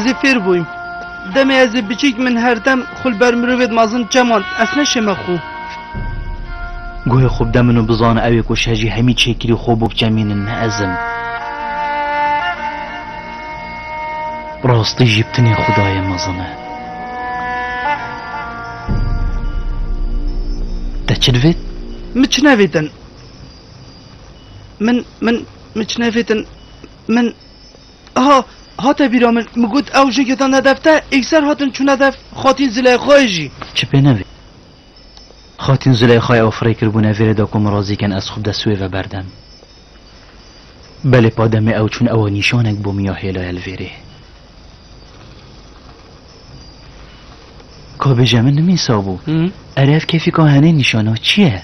Ez ê fêr bûyim. Demê ez ê biçîk min her dem xwe li ber mirovê dimezin çemand. Ez ne şême xwe. Guhê xwe bide min û bizane ew ê ku şejî hemî çêkirî xwe bû bikemînin ne ez im. Bi rastî jî tenê xwedayê mezin e. Te çi divêt? Min çi nevêtin. Min min min çi nevêtin. Min Aha, hate bîra min, min got ew jin ketan hedef te, ekser hatin çûn hedef Xatîn Zileyxayê jî. Çi pê nevê? Xatîn Zileyxayê ew firê kir bûne vê rê de ku min razî kin ez xwe bi dest wê ve berdem. Belê pa demê ew çûn ew nîşanek bo min ya hêlaya li vê rê. Ka bêje min nimîsa bû. Erê ev kêfîka henê nîşana çi ye?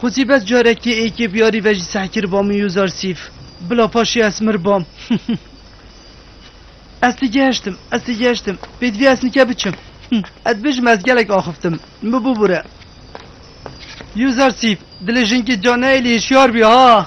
Xwezî bes carekê ê kê biyarî ve jî sehkir ba min yozar sîf. Bila paşê ez mir bam. Ez tê gehiştim, ez tê gehiştim. Pê divê ez nike biçim. Ez dibêjim ez gelek axiftim. Min bibûbûre. Yozar sîf, dilê jinkê ca neyê lê hişyar bî ha.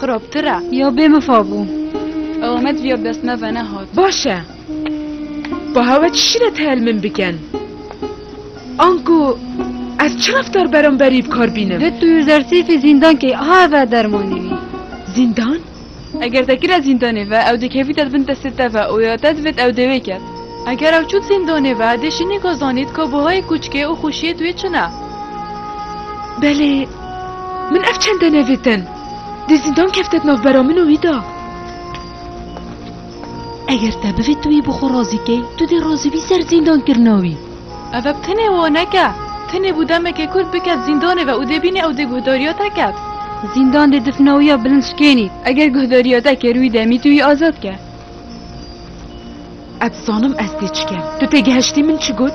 Xirabtir e. Ya bê min fa bû. Ew me diviya bi dest me ve nehat. Baş e. Baha we çi şîret heye li min bikin? Anku ez çi reftar beramberî bi kar bînim? Di tu zersîfî zîndankê ha ve dermanî wî. Zîndan? Eger te kire zîndanê ve ew dikevî te di bin destê te ve û ya te divêt ew dêwê ket. Eger ew çût zîndanê ve dê şînî ka zanît ka buhayê kûçikê û xwişiyê duyê çi ne. Belê. Min ev çente nevêtin. Dê zîndan kevtet navbera min û wî da. Eger te bivê tu wî bi xwe razî key, tu dê razî bî ser zîndankirina wî. Ev ev tenê waneke. Tenê bû demekê kurd biket zîndanê ve û dê bînê ew dê guhdariya te ket. Zîndan dê difna wî ya bilind şikênî. Eger guhdariya te kir wî demî tu wî azad ke. Ez dizanim ez dê çi kem. Tu têgihiştî min çi got?